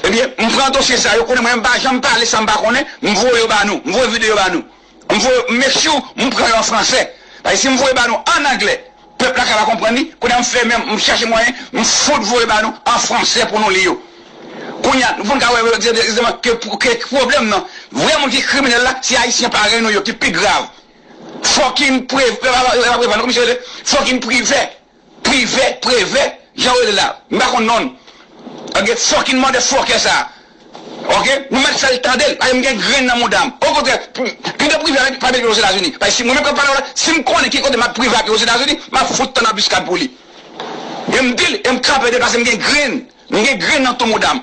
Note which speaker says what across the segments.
Speaker 1: Ebyen m pran dosye sa yo konnen mwen m pa janm pale sa m pa konnen m voye yo ba nou m voye video ba nou m voye yo m make sure m pran yo an fransè paske si m voye ba nou an anglè pèp la ka pa konprann li kounye a m fè menm m chache mwayen m fout voye ba nou an fransè pou nou li yo kounye a pou n ka wè egzakteman ke pwoblèm nan vrè moun ki kriminèl la se ayisyen parèy nou yo ki pi grav fòkinn prev epa preval non kòman misye rele fòkinn privè Privè, Prevè, jan yo rele l la, m pa konn non l. An gen fòkin mòdè fòkè sa a. Ok, nou mèt fè l tande l, paske m gen grenn nan mouda m. Okontrè, pito Privè a pa mete Ozetazini. Paske si mwen menm k ap pale w la, si m konnen ki kote m ap Privè a ap ye Ozetazini, m ap fout tann anbiskad pou li. Men m di l e m krape de l paske m gen grenn, m gen grenn nan tou mouda m.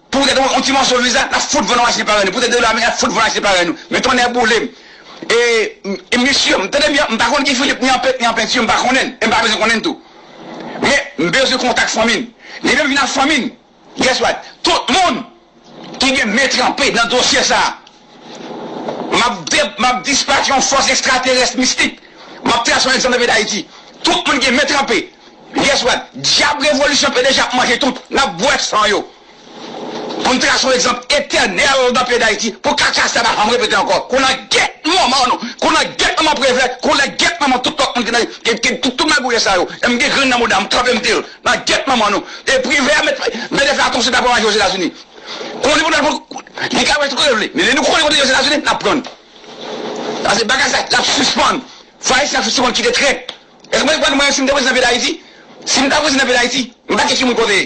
Speaker 1: Pou tèt yon ti mòso viza nap fout vann wache parèy nou pou tèt de dola ameriken nap fout vann wache parèy nou men tonnè boulem e misye m tande byen m pa konn ki Philippe ni an pent ni an peinture m pa konnen l e m pa bezwen konnen l tou men m bezwen kontak fanmi l li menm vin ak fanmi l guess what tout moun ki gen men tranpe nan dosye sa. M ap dispat yon fòs ekstraterès mistik. M ap trase yon egzanp nan peyi Dayiti. Tout moun gen men tranpe. Yes wad. Dyab revolisyon pdg ap manje tout. N ap bwè san yo. Pou n trase yon egzanp etènèl nan peyi Dayiti. Pou kaka sa pa janm repete ankò. Kou nan gèt manman nou. Kou nan gèt manman Prevè. Kou nan gèt manman tout lòt moun ki nan ki tout magouyè sa yo. E m gen grenn nan mouda m. M kanpe m di l. Nan gèt manman nou. E Prevè mete fè atansyon ta pran manje Ozetazini. Konnen pou nou al pran Li ka wè tout kote l vle men lè nou konnen kote yo se etazini nap pran l pase bagay sa lap sispann fò ayisyen ap sispann kite trèt èske mwen konprann mwen si m te prezidan peyi dayiti si m ta prezidan peyi dayiti m pa kè ki moun kote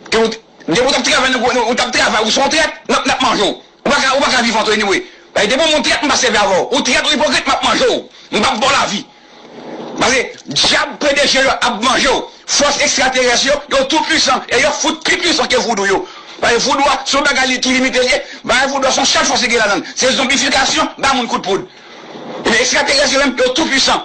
Speaker 1: ke ou depi ou tap travay nan gouvènman ou tap travay ou se yon trèt nap nap manje w ou paka ou paka vivan tou anyway paske depi w moun trèt m pa sèvi avè w ou trèt ou ipokrit map manje w m pap ba w lavi. Paske dyab pdg yo ap manje w, fòs ekstraterès yo, yo tou pwisan e yo fout pi pwisan ke voudou yo. Paske voudou a se yon bagay li ki limite li ye, bagay voudou a se yon sèl fòs li gen ladan l, se zonbifikasyon, ba moun kout poud. Ebyen ekstraterès yo menm yo tou pwisan.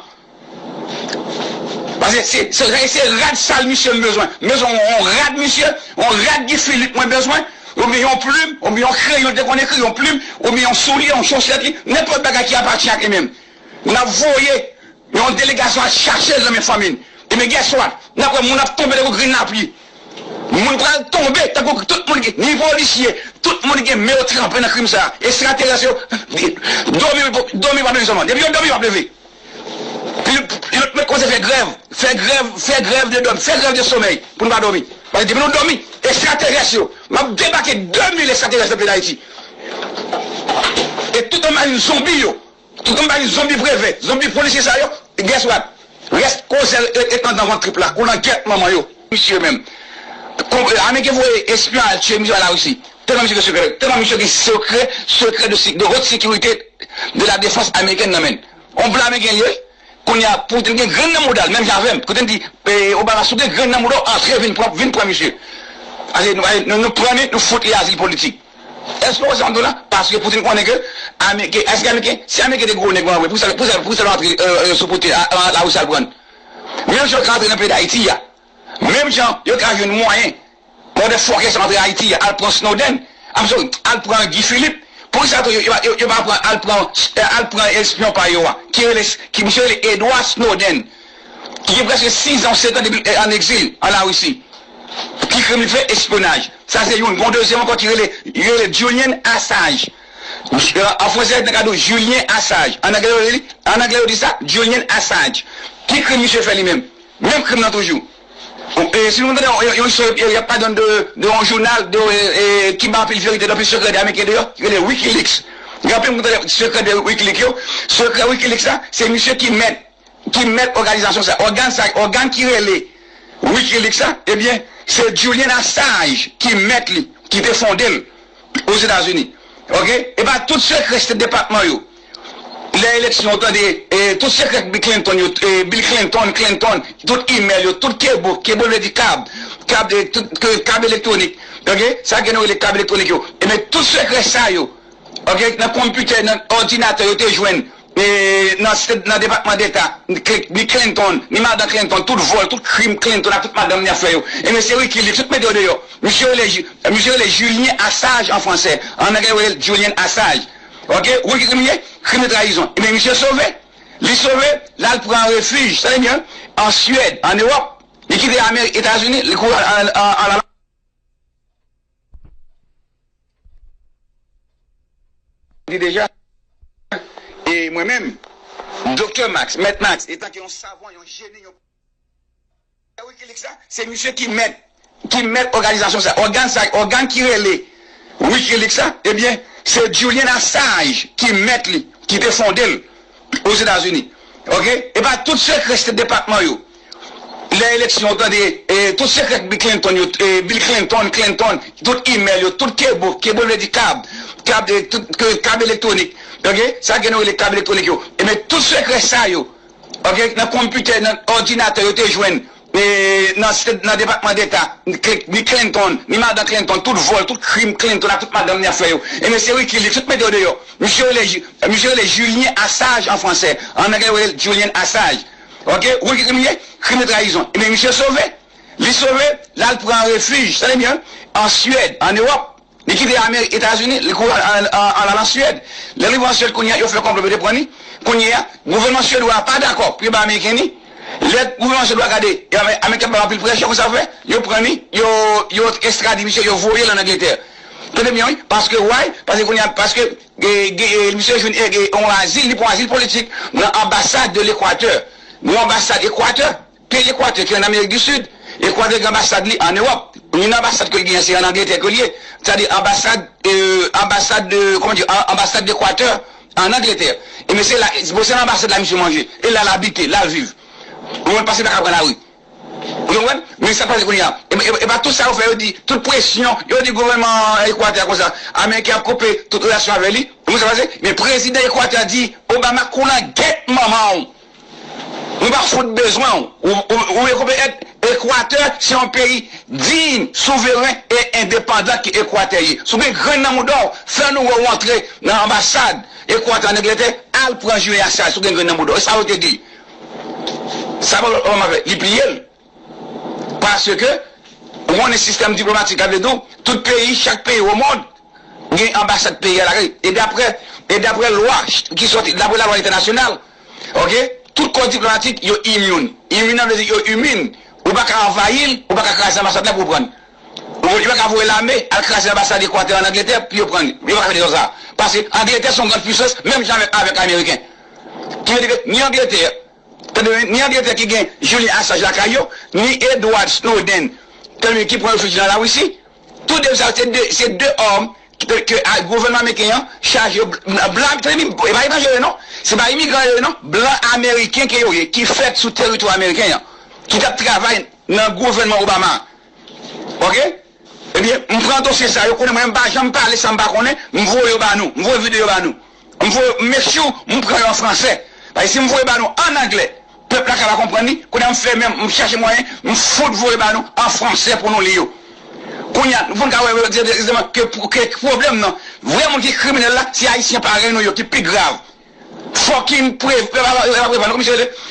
Speaker 1: Paske se se rèy se rad sal misye m bezwen. M bezwen yon rad misye, yon rad Guy Philippe mwen bezwen, oubyen yon plim, oubyen yon kreyon l te konn ekri, yon plim, oubyen yon soulye, yon chosèt li, nenpòt bagay ki apatyen ak li menm. N ap voye yon delegasyon al chache l nan men fanmi l. Ebyen guess what? N ap wè moun ap tonbe tankou grenn lapli. Moun pral tonbe tankou grenn tout moun ki ni polisye, tout moun ki gen men yo tranpe nan krim sa a. Ekstraterès yo dòmi wi dòmi pa leve sèlman. Depi yo dòmi yo ap leve. Pi lòt mèt kòmanse fè grèv, fè grèv, fè grèv de dòmi, fè grèv de somèy pou nou pa dòmi. Paske depi nou dòmi ekstraterès yo m ap debake 2000 ekstraterès nan peyi Dayiti e tout anmajin zonbi yo Tout kòm pa gen zonbi preve, zonbi polisye sa yo, guess what? Rès kozè ret andan vant trip la kou nan gyèt manman yo. Misye menm. Ameriken voye espyon al tiye misye a la Russie. Telman misye gen sekrè, telman misye gen sekrè, sekrè de haute securite de la defense americaine nan menn. On blan ameriken li ye. Kounye a pou te gen grenn nan mouda l menm jan avèm, pou te di Obama si w gen grenn nan mouda w antre vin pran misye. Pase nou pran li, nou fout li azil politik. Eske ou wè sa map diw la? Paske Putin konnen ke ameriken, eske ameriken, si ameriken te gwo nèg vre poukisa poukisa poukisa yo antre sou Putin a la Russie al prann? Menm jan yo ka antre nan peyi Dayiti a, menm jan yo ka jwenn mwayen pou de fòkè sa yo antre Ayiti a al pran Snowden, I'm sorry, al pran Guy Philippe, poukisa tou yo pa yo pa pran al pran al pran espyon pa yo a ki rele ki misye rele Edward Snowden. ki gen prèske 6 an ou 7 an depi l an egzil an Larisi. Ki krim li fè? Espyonaj. Sa se youn. Gon dezyèm ankò ki rele, yo rele l Julian Assange. An franse nan ka di w Julien Assange. An angle yo rele li, an angle yo di sa Julian Assange. Ki krim misye fè li menm? Menm krim lan toujou. Si nou tande yon yon istwa y ap pale nan de de yon jounal de ki bay anpil verite, anpil sekrè de ameriken deyò, ki rele Wikileaks. Gen anpil moun ki tande sekrè de Wikileaks yo. Sekrè Wikileaks la, se misye ki mèt. ki mèt òganizasyon sa, ògàn sa, ògàn ki rele Wikileaks la, ebyen se Julian Assange ki mèt li, ki te fonde l Ozetazini. Ok, epa tout sekrè State Department yo, lè eleksyon ou tande tout sekrè Bill Clinton yo, Bill Clinton, Clinton, tout email yo, tout kebo, kebo vle di kab, kab, kab elektwonik, ok, sa ke nou rele kab elektwonik yo, ebyen tout sekrè sa yo, ok, nan konpitè, nan òdinatè yo te jwenn nan depatman deta ni Clinton ni madan Clinton tout vòl tout krim Clinton ak tout madanm li ap fè yo e mesye Wikileaks tout mete yo deyò misye rele misye rele Julien Assage an fransè an anglè yo relel Julian Assage ok ou konn ki krim li ye krim de trayizon ebyen misye sove li sove lal pran refij tande byen an Suède an Ewòp li kite Ameri Etazini li kouri al Di deja, e mwen menm, Doktè Max, Mèt Max, etan ke yon savan, yon jeni, yon pwofesè Wikileaks la, se misye ki mèt, ki mèt òganizasyon sa, ògàn sa, ògàn ki rele Wikileaks la, ebyen, se Julian Assange ki mèt li, ki te fonde l Ozetazini. Ok? E pa tout sekrè State Department yo. lè eleksyon ou tande tout sekrè Bill Clinton yo Bill Clinton Clinton tout email yo tout kebo kebo vle di kab kab tout kab elektwonik ok sa gen nou rele kab elektwonik yo ebyen tout sekrè sa yo ok nan konpitè nan òdinatè yo te jwenn nan depatman deta ni Clinton ni madan Clinton tout vòl tout krim Clinton ak tout madanm li ap fè yo ebyen se Wikileaks tout mete yo deyò misye rele misye rele Julien Assage an fransè an anglè yo rele Julian Assage. Ok ou konn ki krim li ye krim de trayizon ebyen misye sove li sove lal pran refij tande byen an Suède an Europe li kite Ameri Etazini li kouri al al an Suède lèl rive an Suède kounyea yo fè konplo pou yo te pran li kounyea gouvènman suedwa a pa dakò pou yo bay ameriken li lè gouvènman suèdwa gade ebyen ameriken ap bay anpil presyon konsa yo fè yo pran li yo yo estrade misye yo voyel an Angletè tande byen wi paske why paske kounyea paske Misye jwenn yon azil, li pran azil politik nan anbasad de Lekwatè. Yon anbasad Ekwatè, peyi Ekwatè ki an Amerik di Sid. Ekwatè gen anbasad li an Ewòp. Youn nan anbasad ke l genyen se an Angletè ke l ye. Sa di anbasad, anbasad de, kòman di, anbasad de Ekwatè an Angletè. Ebyen se la, se nan anbasad la misye manje. E la l abite, la l viv. Moun pa se pa ka pran lari. Ou te konprann? Men sak pase kounye a, e pa tout sa yo fè yo di, tout presyon yo di gouvènman Ekwatè a konsa, ameriken ap koupe tout relasyon avè li, ou konprann sak pase? Men prezidan Ekwatè a di Obama kou lan gèt manman w, nou pa fout bezwen w, ou e konprann et Ekwatè se yon peyi diy, souveren e endepandan ke Ekwatè ye, si w gen grenn nan mouda w fè nou wè w antre nan anbasad Ekwatè an Anglètè al pran jileyasyaj si w gen grenn nan mouda w, e sa yo te di. Sa Pòl pa manman fè, li pliye l. Paske, ou konnen sistèm diplomatik la vle di w, tout peyi, chak peyi omond gen anbasad peyi a lakay li. E daprè, e daprè lwa ki sòti, daprè lalwa entènasyonal, oke, tout kò diplomatik yo immune. Immune nan vle di yo imin. Ou pa ka anvayi l, ou pa ka kraze anbasad la pou ou pran l. Yo paka voye lame al kraze anbasad Ekwatè an Angletè pou yo pran li. Yo paka fè dezòd sa a. Paske Angletè se yon grand pwisans menm jan avèk Ameriken. Ki vle di ke ni Angletè, tande byen, ni Angletè ki gen Julian Assange lakay yo, ni Edward Snowden, tande byen, ki pran refij nan Lawisi, tou de sa yo se de, se de òm ke gouvènman ameriken an chaje yo blan, tande byen, e pa etranje yo ye non, se pa imigran yo ye non, blan ameriken ke yo ye ki fèt sou teritwa ameriken an, ki t ap travay. nan gouvènman Obama ok ebyen m pran dosye sa yo konnen mwen m pa janm pale sam pa konnen m voye yo ba nou m voye video yo ba nou m voye m make sure m pran yo an fransè paske si m voye ba nou an anglè pèp la ka pa konprann li kounye a m fè menm m chache mwayen m fout voye ba nou an fransè pou nou li yo kounye a pou n ka wè egzakteman ke pwoblèm nan vrè moun ki kriminèl la se ayisyen parèy nou yo ki pi grav fòkinn pre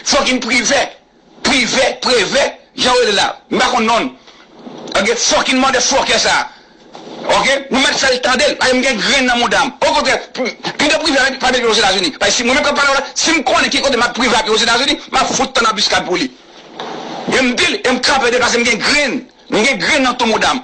Speaker 1: fòkinn privè. Privè, prevè, jan yo rele l la, m pa konn non l. Ok, fucking motherfucker sa a. Ok, nou mèt fè l tande l, paske m gen grenn nan mouda m. Okontrè, pito privè a pa mete l Ozetazini. Paske si mwen menm k ap pale w la, si m konnen ki kote m ap privè a pi Ozetazini, m ap fout tann anbiskad pou li. E m di l, e m krape de l paske m gen grenn, m gen grenn nan tou mouda m.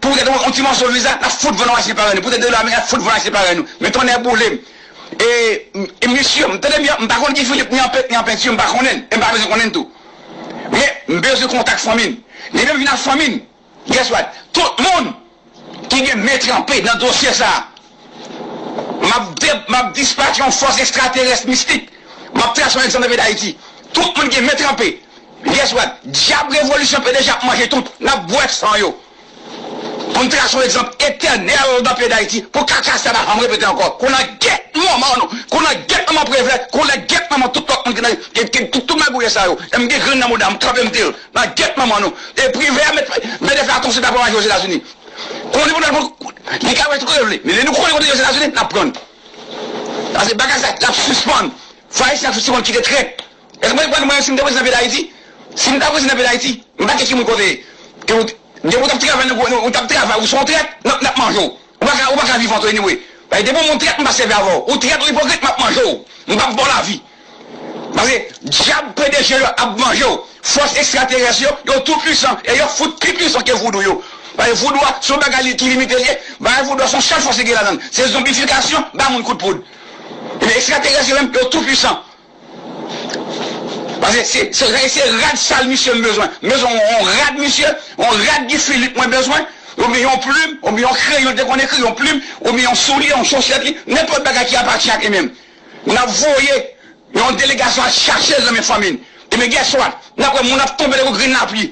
Speaker 1: Pou tèt yon ti mòso viza nap fout vann wache parèy nou pou tèt de lame nap fout vann wache parèy nou men tonnè boulem e misye m tande byen m pa konn Guy Philippe ni an pent ni an penti m pa konnen l e m pa bezwen konnen l tou men m bezwen kontak fanmi l li menm vin ak fanmi l guess what tout moun ki gen men tranpe nan dosye sa M ap dispach yon fòs ekstraterès mistik. M ap trase yon egzanp nan peyi Dayiti. Tout moun gen men tranpe. Yes what? Dyab revolisyon pdg ap manje tout. N ap bwè san yo. Pou n trase yon egzanp etènèl nan peyi Dayiti pou kaka sa pa janm repete ankò. Koulè gèt manman nou. Koulè gèt manman Prevlè. Koulè gèt manman tout lòt moun ki nan tout magouyè sa yo. M gen grenn nan mouda m. M tranpe m di l. Nan gèt manman nou. E Privè a mete fè atansyonl pa pran manje Ozetazini. Konnen pou nou al pran, li ka wè tout kote l vle, men lè nou konnen kote yo se Etazini, n ap pran. Pase bagay sa l ap sispann. Fò Ayisyen ap sispann kite trèt. Èske mwen konprann mwen si m te prezidan peyi Dayiti? Si m ta prezidan peyi Dayiti, m pa kè ki moun kote e. Ke ou depi ou t ap travay nan gouv ou t ap travay ou se yon trèt, n ap n ap manje w. Ou pa ka ou pa ka vivan tou anyway. Paske depi w moun trèt m pa sèvi avè w. Ou trèt ou ipokrit m ap manje w. M p ap ba w lavi. Paske dyab pdg yo ap manjew, fòs ekstraterès yo, yo tou pwisan e yo fout pi pwisan ke voudou yo. Paske voudou a son bagay ki limite li ye, bagay voudou a son sèl fòs li gen ladann, se zonbifikasyon, ba moun kout poud. Ebyen ekstraterès yo menm yo tou pwisan. Paske se se rad sal misye m bezwen, m bezwen yon rad misye, yon rad Guy Philippe mwen bezwen, oubyen yon plim, oubyen yon kreyon li te konn ekri, yon plim, oubyen yon soulye, yon chosèt li, nenpòt bagay ki apati ak li menm. N ap voye yon delegasyon al chache l nan men fanmi l. Ebyen gèswa, n ap wè moun ap tonbe tankou grenn lapli.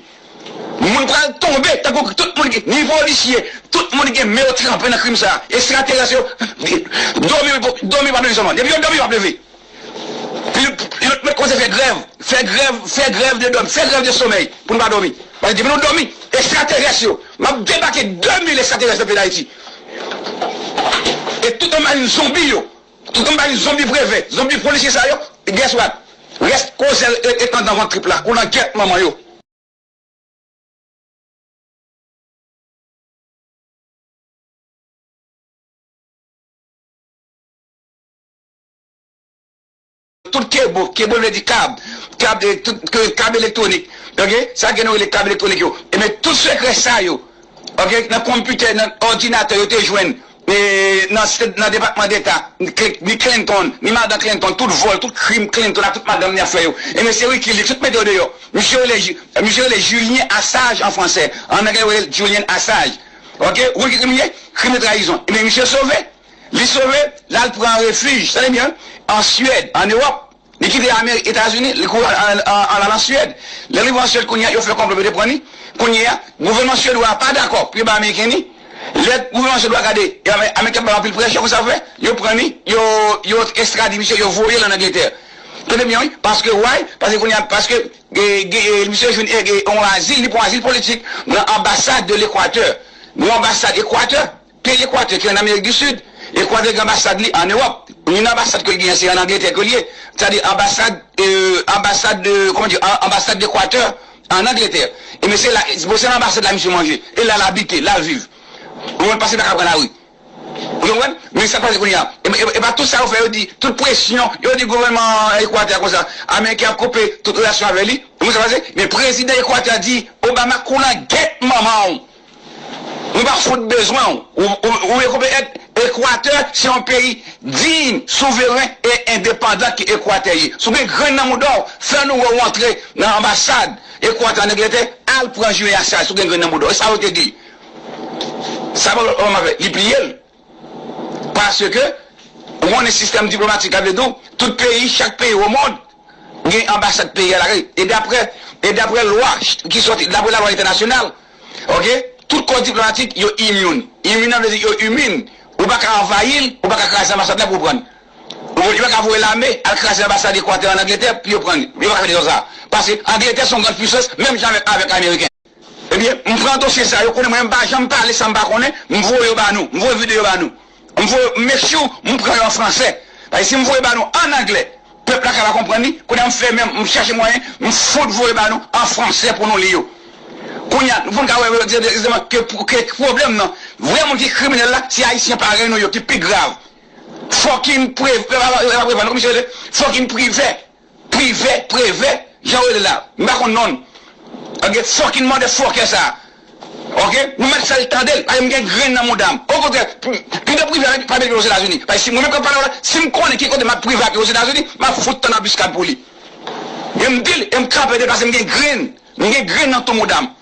Speaker 1: Moun pral tonbe tankou grenn, tout moun ki, ni polisye, tout moun ki gen men yo tranpe nan krim sa a. Ekstraterès yo, dòmi wi, dòmi pa leve sèlman. Depi yo dòmi yo ap leve. Pi yo mèt kòmanse fè grèv, fè grèv, fè grèv de dòmi, fè grèv de somèy pou nou pa dòmi. Paske depi nou dòmi, ekstraterès yo, m ap debake 2000 ekstraterès nan peyi Dayiti. E tout nan marin zonbi yo. Ki konpayi zonbi preve, zonbi polisye sa yo? Guess what? Rès ko zèl rete andan vant trip la, ou nan gyèt manman yo. Tout kebo, kebo vle di kab, kab e tout ke kab elektronik ok sa ke nou rele kab elektronik yo ebyen tout sekrè sa yo ok nan konpitè nan òdinatè yo te jwenn e nan se nan depatman deta ni Clinton ni madan Clinton tout vòl tout krim Clinton ak tout madanm ni ap fè yo ebyen se Wikileaks tout mete yo deyò misye rele ji misye rele Julien Assage an fransè an anglè yo rele l Julian Assage ok ou konn ki krim li ye krim de trayizon ebyen misye sove. Li sove, l al pran refij, tande byen, an Suède, an Ewòp. Li kite Amerik, Etazini, li kouri al al an Suède. Lè l rive an Suède kounye a, yo fè konplo pou yo te pran li. Kounye a, gouvènman Suèdwa a pa dakò pou yo bay Ameriken li. Lè gouvènman Suèdwa a gade Ameriken ap bay anpil presyon, konn sa yo fè? Yo pran li, yo yo estrade misye, yo voye l an Angletè. Tande byen wi, paske why? Paske kounye a, paske misye jwenn yon azil, li pran yon azil politik nan anbasad de Lekwatè. Yon anbasad Ekwatè. Peyi Ekwatè ki an Amerik di Sid, Ekwatè gen anbasad li an Ewòp. Youn nan anbasad ke l genyen se an Angletè ke l ye. Sa di anbasad, anbasad, kòman di, anbasad Dekwatè an Angletè. Enben se la, bon se nan anbasad la misye manje. E la l abite, la l viv. Ou konprann? Paske l pa ka pran lari. Ou konprann? Men sa k pase kounye a, e pa tout sa yo fè yo di, tout presyon, yo di gouvènman Ekwatè a konsa, Ameriken ap koupe tout relasyon avè li. Ou konprann sa k pase? Men prezidan Ekwatè a di Obama koulan gèt manman w. Nou pa fout bezwen w. Ou rekonèt Ekwatè se yon peyi diy, souveren e endepandan ke Ekwatè ye. Si w gen grenn nan mouda w, fè nou wè w antre nan anbasad Ekwatè an Anglètè al pran jwe a sa a si w gen grenn nan mouda w. E sa yo te di. Sa pa lòt Obama fè, li pliye l. Paske, ou konnen sistèm diplomatik la vle di w, tout peyi, chak peyi o mond gen anbasad peyi a lakay. E daprè, e daprè lwa ki sòti, daprè lalwa entènasyonal, ok, tout kò diplomatik yo imun. Imun an vle di yo imun. Ou pa ka anvayi l, ou pa ka kraze anbasad la pou w pran l. Ou konprann? Yo pa ka voye lame al kraze anbasad Ekwatè an Angletè pou yo pran l. Yo pa ka fè dezòd sa a. Paske, Angletè se yon gran pwisans menm jan avèk, avèk Ameriken. Ebyen m pran dosye sa yo konnen mwen m pa janm pale sa m pa konnen m voye yo ba nou m voye video ba nou m voye m make sure m pran yo an fransè paske si m voye ba nou an anglè pèp la ka pa konprann li kounye a m fè menm m chache mwayen m fout voye ba nou an fransè pou nou li yo kounye a pou n ka wè egzakteman ke pwoblèm nan vrè moun ki kriminèl la se ayisyen parèy nou yo ki pi grav fòkinn prev epa prevan non kòman misye rele fòkinn privè. Privè, Prevè, jan yo rele l la, m pa konn non l. Ok, fòkin mòdè fòkè sa a. Ok, nou mèt fè l tande l, paske m gen grenn nan mouda m. Okontrè, pito Privè a pa met yo Ozetazini. Paske si mwen menm k ap pale w la, si m konnen ki kote m ap Privè ap ye Ozetazini, m ap fout tann anbiskad pou li. Men m di l e m krape de l paske m gen grenn, m gen grenn nan tou mouda m.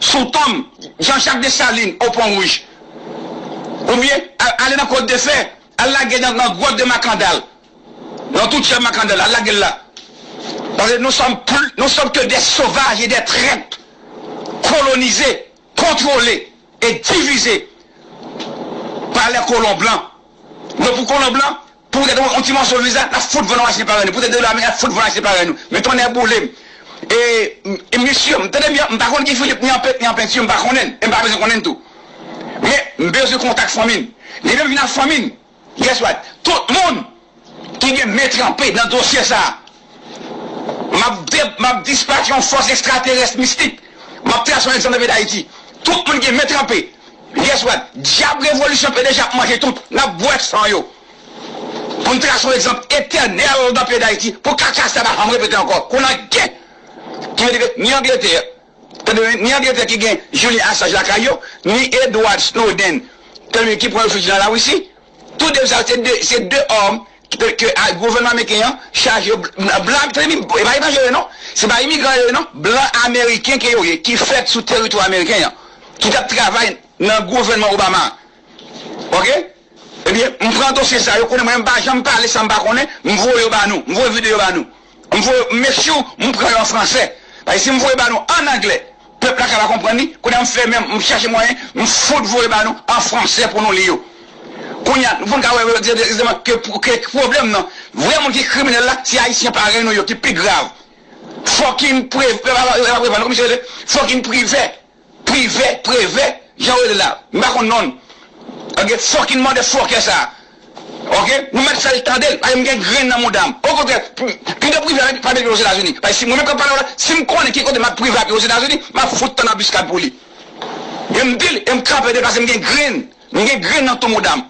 Speaker 1: Sou tonm Jean Jacques Dessalines au Pont Rouge ou byen ale nan Côte de Fer, al lage nan Grotte de Makandal, nan tou Tchèb Makandal al lage l la. Paske nou sòm pl, nou sòm ke dè sovaj e dè trèt kolonize, kontwole e divize pa lè kolon blan. Donk pou kolon blan, Pou tèt yon ti mòso viza nap fout vann nou achte parèy nou pou tèt de dola ameriken nap fout vann achte parèy nou men tonnè boulem ee misye m tande byen m pa konn ki Philippe ni an pent ni an peinture m pa konnen l e m pa bezwen konnen l tou men m bezwen kontak fanmi l li menm vin ak fanmi l guess what tout moun ki gen men tranpe nan dosye sa M ap dispach yon fòs ekstraterès mistik. M ap trase yon egzanp nan peyi Dayiti. Tout moun gen men tranpe. Yes wad. Dyab revolisyon pdg ap manje tout. N ap bwè san yo. Pou n trase yon egzanp etènèl nan peyi Dayiti. Pou kaka sa pa janm repete ankò. Kou nan gen. Ki vle di ke ni Angletè. Tande byen. Ni Angletè ki gen Julian Assange lakay yo. Ni Edward Snowden. Tande byen. Ki pran refuge nan Lawisi. Tou de sa yo se de. Se de òm. Ke gouvènman ameriken an chaje yo blan ap treni e pa etranje yo ye non se pa imigran yo ye non blan ameriken ke yo ye ki fèt sou teritwa ameriken an ki tap travay nan gouvènman Obama a ok ebyen m pran dosye sa yo konnen mwen m pa janm pale sa m pa konnen m voye yo ba nou m voye videyo ba nou. M voye yo make sure m pran yo an fransè paske si m voye ba nou an anglè pèp la ka pa konprann li kounye a m fè menm m chache mwayen m fout voye ba nou an fransè pou nou li yo kounye a pou n ka wè egzakteman ke pwoblèm nan vrè moun ki kriminèl la se ayisyen parèy nou yo ki pi grav fòkinn prevè fòkinn privè. Privè, prevè, jan yo rele l la, m pa konn non l. Ok, fòkin mòdè fòkè sa a. Ok, nou mèt fè l tande l, paske m gen grenn nan mouda m. Okontrè, pito Privè a pa mete l Ozetazini. Paske si mwen menm k ap pale a w la, si m konnen ki kote m ap Privè ap ye Ozetazini, m ap fout tann anbiskad pou li. E m di l, e m krape de l paske m gen grenn, m gen grenn nan tou mouda m.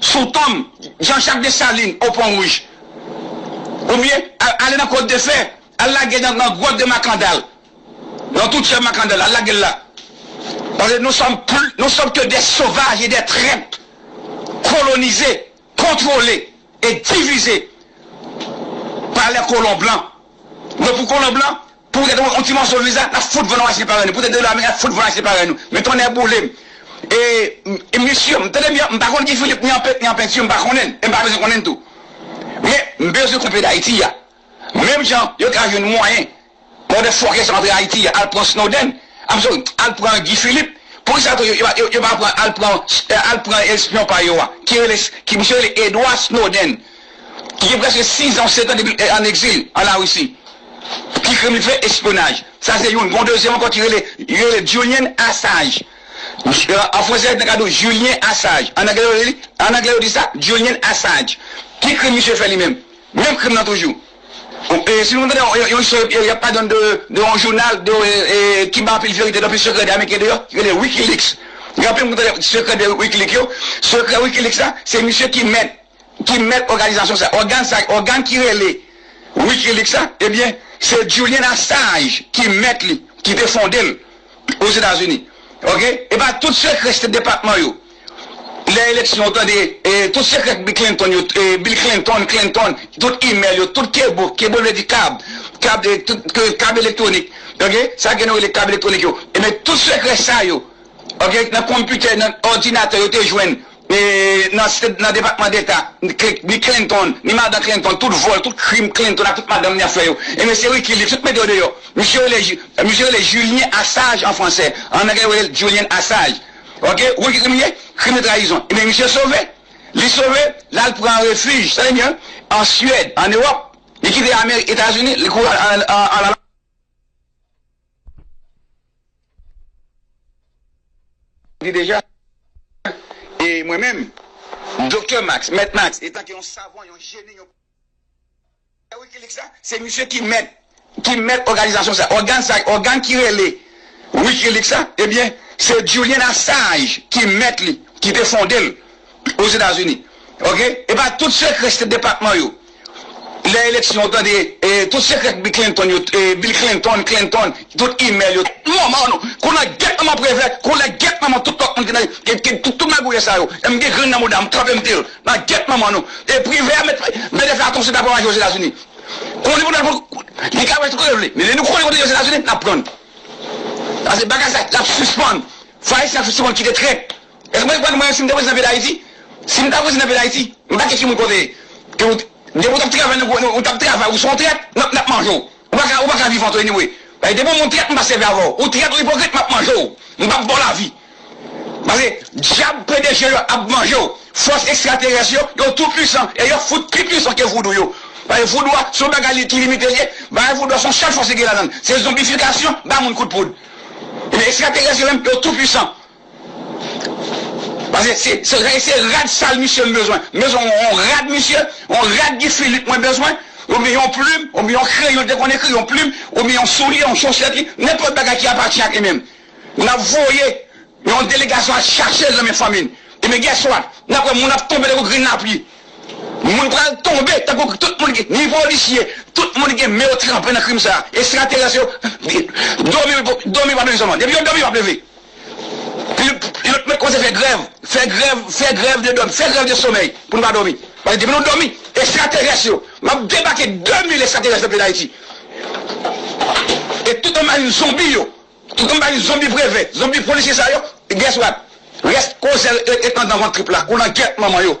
Speaker 1: Sou tonm Jean Jacques Dessalines au Pont Rouge. Ou byen ale nan Côte de Fer, al lage nan Grotte de Makandal, nan tou tyè Makandal, al lage l la. Paske nou sòm pli, nou sòm ke dè sovaj e dè trèt kolonize, kontwole e divize pa lè kolon blan. Don pou kolon blan, pou poutèt yon ti mòso viza, n'ap fout vann Washington parèy nou, poutèt dola ameriken, n'ap fout vann Washington parèy nou. Men tonnè boule m'! E mesye, tande byen, m'pa konn Guy Philippe ni an pent ni an penti, m'pa konnen l', e m'pa bezwen konnen l' tou. Men, m'bezwen konnen peyi Dayiti a. Menm jan yo ka jwenn mwayen pou yon de fòkè sa yo antre Ayiti a, al pran Snowden, I'm sorry, al pran Guy Philippe, poukisa tou yo pa pran, al pran, al pran espyon pa yo a, ki rele, ki misye rele Edward Snowden. ki gen prèske 6 an ou 7 an depi l an egzil an Larisi. Ki krim li fè? Espyonaj. Sa se youn. Gon dezyèm ankò ki rele, yo rele l Julian Assange. An franse nèg la di w Julien Assange. An angle yo rele li, an angle yo di sa Julian Assange. Ki krim misye fè li menm? Menm krim lan toujou. Si nou tande yon istwa y ap pale de yon jounal ki bay anpil verite, anpil sekrè de ameriken deyò, ki rele Wikileaks. Gen anpil moun ki tande sekrè de Wikileaks yo. Sekrè Wikileaks la, se misye ki mèt. ki mèt òganizasyon sa, ògàn sa, ògàn ki rele Wikileaks la, ebyen se Julian Assange ki mèt li, ki te fonde l Ozetazini ok. Epa tout sekrè State Department yo lè eleksyon ou tande tout sekrè k Clinton yo Bill Clinton, Clinton, tout email yo, tout kebo, kebo vle di kab, kab kab elektwonik ok, sa gen nou rele kab elektwonik yo, ebyen tout sekrè sa yo ok nan konpitè nan òdinatè yo te jwenn Nan depatman deta ni Clinton ni madan Clinton tout vòl tout krim Clinton ak tout madanm li ap fè yo e mesye Wikileaks tout mete yo deyò misye rele Julien Assage an fransè an anglè yo relel Julian Assage ok ou konn ki krim li ye krim de trayizon ebyen misye sove li sove lal pran refij tande byen an Suède an Europe li kite Etazini li kouri al di deja, e mwen menm, Doktè Max, Mèt Max, etan ke yon savan, yon jeni, yon pè Wikileaks la, se misye ki mèt, ki mèt òganizasyon sa, ògàn sa, ògàn ki rele Wikileaks la, ebyen, se Julian Assange ki mèt li, ki te fonde l, Ozetazini ok epa tout sekrè state depatman yo lè eleksyon ou tande tout sekrè bi Clinton yo Bill Clinton Clinton tout email yo tout manman nou kou nan gèt manman prevè kou nan gèt manman tout lòt moun ki nan ki tout magouyè sa yo em gen grenn nan mouda m trapem dil nan gèt manman nou e privè a met met efè atonse ta pran avi Ozetazini konnen pou nan li ka wè tout kote l vle men lè nou konnen kote Ozetazini nap prann pase bagay sa lap sispann fwa ayisyen ap sispann kite trèt. Eske mwen konn mwen si m te prezidan peyi dayiti si m ta prezidan peyi dayiti m pa kesyon moun kote ke ou depi ou tap travay nan gouvenman ou tap travay ou son trèt nap nap manje w ou paka ou paka vivan tou anyway paske depi ou moun trèt m pa sèvi avè w ou trèt ou ipokrit map manje w m pap baw lavi paske dyab pdg yo ap manje w fòs ekstraterès yo yo tou pwisan e yo fout pi pwisan ke voudou yo paske voudou a son bagay li ki limite l ye bagay voudou a son sèl fòs ki gen ladan l se zonbifikasyon ba moun kout poud ebyen ekstraterès yo menm yo tou pwisan. Pase se se rad sal misye m bezwen m bezwen yon rad misye yon rad Guy Philippe mwen bezwen oubyen yon plim oubyen yon kreyon li te konn ekri yon plim oubyen yon soulye yon chosèt li nenpòt bagay ki apatyen ak li menm n ap voye yon delegasyon al chache l nan men fanmi l ebyen guess what n ap wè moun ap tonbe tankou grenn lapli moun pral tonbe tankou tout moun ki ni polisye tout moun ki gen men yo tranpe nan krim sa ekstraterès yo domi domi yo p ap leve sèlman depi yo domi yo p ap leve. Yo t met kòmanse fè grèv, fè grèv, fè grèv de dòmi, fè grèv de somèy pou nou pa dòmi. Paske depi nou dòmi, ekstraterès yo, m ap debake 2000 ekstraterès nan peyi Dayiti. E tout anbari zonbi yo, tout anbari zonbi prefè, zonbi polisye sa yo, guess what? Rès kozè yo te andan vant trip la, koulangèt manman yo.